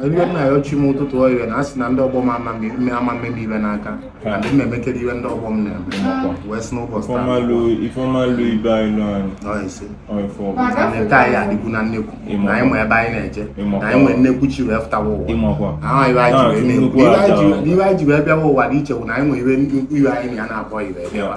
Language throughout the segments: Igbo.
iwe na-ayọ chi m ụtụtụ oyiwe na a sị na ndị ọgbọ m ama mme m iwe n'aka na ndị m emekere iwe ndị ọgbọ m na-eme wee sị n'ụbọchị taa taa ya adịkwu na nnekwu na anyị ma ebe anyị na-eje na anyị nwee nnekwu chi wee fụtawa ụwa ahụ iwe anyị ji wee bịawa ụwa dị iche bụ na anyị nwee iwe anyị na ya na-abụọ iwe bịawa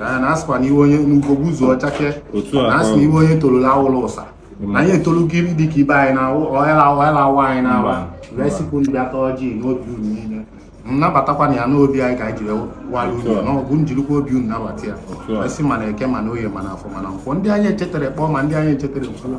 na asịkwa na iwe onye n'ugogbu ụzọ ọchake na asị na iwe onye tolula awụla ụsa na anyị etolugo iri dịka ibe anyị na ọhela awa anyị na-awa wee sikwu ndị bịa taa ọjị n'obi unu niile nnabatakwa na ya n'obi anyị ka anyị jiri walụ unu na ọ bụ njirikwa obi unu nabata ya wee sị mana eke mana oye mana afọ mana nkwọ ndị anyị echetara kpọọ ma ndị anyị echetara kwuo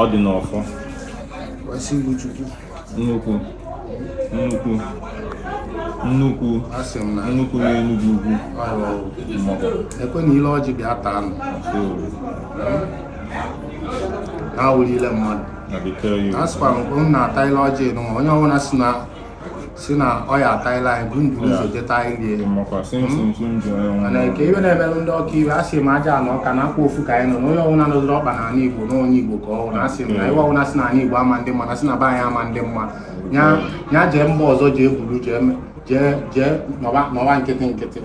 ọ dị n'ọfọ wee sị iwu Chukwu. nnukwu nnukwu nnukwu Asị m na nnukwu n'enugwu ugwu mmọkọ ekwe na ile ọjị bịa taa nụ. Ha wulile mmadụ. na bekee ya A sịkwara m na-ata ile ọjị nụ onye ọbụla si na si na ọ ya ataila anyị bụ nduru ụzọ jeta ilie mana nke iwe na-emelụ ndị ọka iwe a sị m aja na ọka na akwa ofu ka anyị nọ na onye ọbụla nọziri ọkpa na ala igbo na onye igbo ka ọ na asị m na iwe ọbụla si na ala igbo ama ndị mma na si na be anyị ama ndị mma ya jee mba ọzọ jee buru jee jee jee nọwa nkịtị nkịtị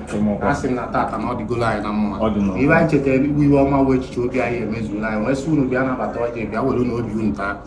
a sị m na tata na ọ dịgolo anyị na mma iwe anyị chetara iwe ọma wee echiche obi anyị emezuola anyị wee sị unu bịa nabata ọjị bịa were na obi unu taa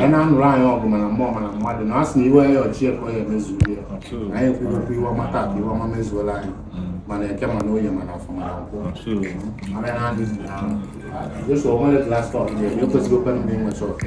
ya na-anụrụ anyị ọgụ mana mmụọ mana mmadụ na asị na iwe ya ọchị ekwe ya emezuo ya anyị ekwughịkwa iwe ọma taa ka iwe ọma mezuola anyị mana eke mana oye mana afọ mana nkwọ mana ya na-adịghị na jesu onwere klasị ọdịnihu ekwesịghị okwe ndị nwe chọọkụ